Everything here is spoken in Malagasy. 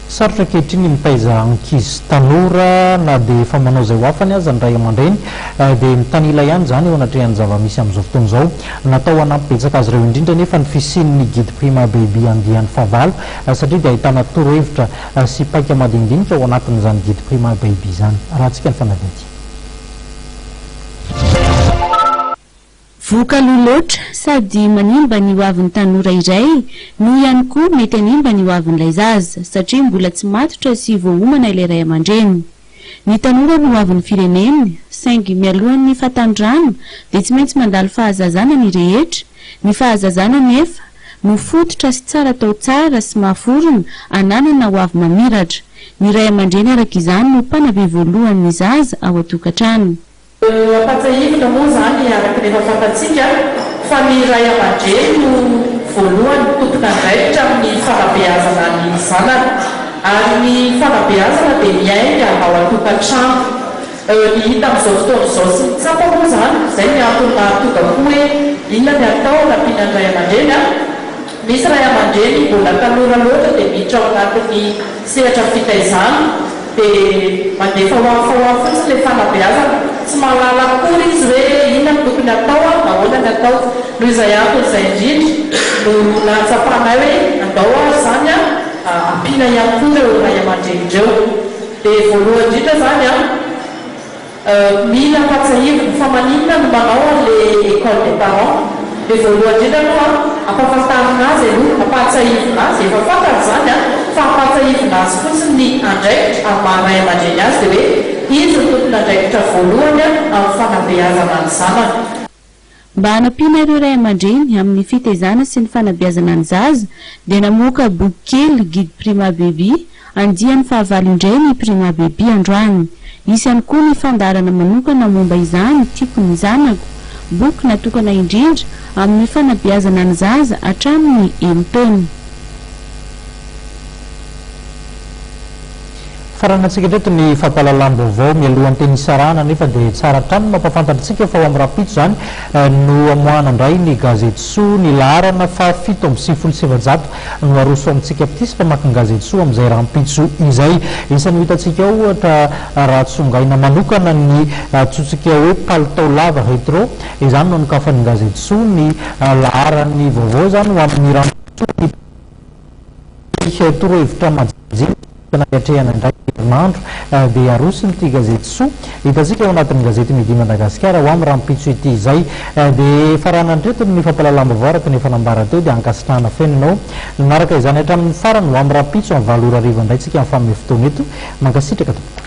Sarotra ankehitriny ny mitaiza ankizy tanora na dia efa manao izay ho afany aza ny ray aman-dreny dia mitanila ihany izany eo anatrehan'ny zava-misy amin'izao fotoana izao. Natao hanampy betsaka azy ireo indrindra anefa ny fisian'ny Guide Prima Baby andiany fahavalo satria dia ahitana torohevitra sy paika madinidinika ao anatin'izany Guide Prima Baby izany. Arahantsika ny fanadihadiana. Vohoka aloha loatra, sady manimba ny hoavin'ny tanora iray no ihany koa mety hanimba ny hoavin'ilay zaza, satria mbola tsy matotra sy voaomana ilay ray aman-dreny. Ny tanora no hoavin'ny firenena, saingy mialohan'ny fahatanorana dia tsy maintsy mandalo fahazazana ny rehetra, ny fahazazana anefa no fototra sy tsara atao tsara sy mahaforona hananana hoavy mamiratra. Ny ray aman-dreny araka izany no mpanabe voalohany ny zaza ao an-tokantrano. Ampatsahivina moa izany araka ny efa fantatsika fa ny ray aman-dreny no voalohany tompon'andraikitra amin'ny fanabeazana ny zanany ary ny fanabeazana dia miainga ao an-tokantrano. Ny hita amin'izao fotoana izao sy ny tsapa moa izany, izay ny antony mahatonga koa hoe inona ny atao anampiana ny ray aman-dreny an? Misy ray aman-dreny mbola tanora loatra dia miditra ao anatin'ny sehatra fitaizana dia mandefa ho afa ho afa fotsiny ilay fanabeazana, tsy mahalala akory izy hoe inona no tokony hatao ary nahoana ny atao. Noho izay antony izay indrindra no nahatsapanay hoe andao ary izany ampiana ihany koa ireo ray aman-dreny ireo. Dia voalohany indrindra izany an! Mila ampatsahivina fa maninona no manao an le ecole des parents le voalohany indrindra aloha an ampafantarina azy aloha ampahatsahivina azy efa fantany zany an fa ampatsahivina azy fotsiny ny andraikitra ary maha ray aman-dreny azy de hoe izy no tompon' andraikitra voalohany an amin'ny fanabeazana ny zanany. Mba hanampiana ireo ray aman-dreny amin'ny fitaizana sy ny fanabeazana ny zaza dia namoaka boky kely Guide Prima Baby andiany fahavalo indray ny Prima Baby androany. Hisy ihany koa ny fandaharana manokana momba izany Tiako ny zanako, boky natokana indrindra amin'ny fanabeazana ny zaza hatramin'ny enin-taona. Faranin'antsika hatreto ny fampahalalam-baovao mialohan'ny teny hisarahana anefa dia tsara hatrany ny mampahafantatra antsika fa ho amin'ny rahampitso izany no hamoahana indray ny gazety soa ny laharana faha fito amby sivifolo sy efajato no aroso amintsika mpitia sy mpamaky ny gazety soa amin'izay rahampitso izay isan'ny ho hitantsika ao ohatra raha tsongaina manokana ny antsointsika hoe palitao lava retro izany no anokafan'ny gazety soa ny laharan'ny vaovao izany ho amin'ny rahampitso ny Ity torohevitra majinika tokony hankatreahana indray ny herinandro dia aroson'ity gazety soa hitantsika ao anatin'ny gazety Midi Madagasikara ho amin'ny rahampitso ity izay. Dia efa raha nandritro ny fampahalalam-baovao araka ny efa nambara teo dia ankasitrahana feno ianao nanaraka izany hatramin'ny farany. Ho amin'ny rahampitso amin'ny valo ora hariva indray tsika mifamehy fotoana eto. Mankasitraka tompoko.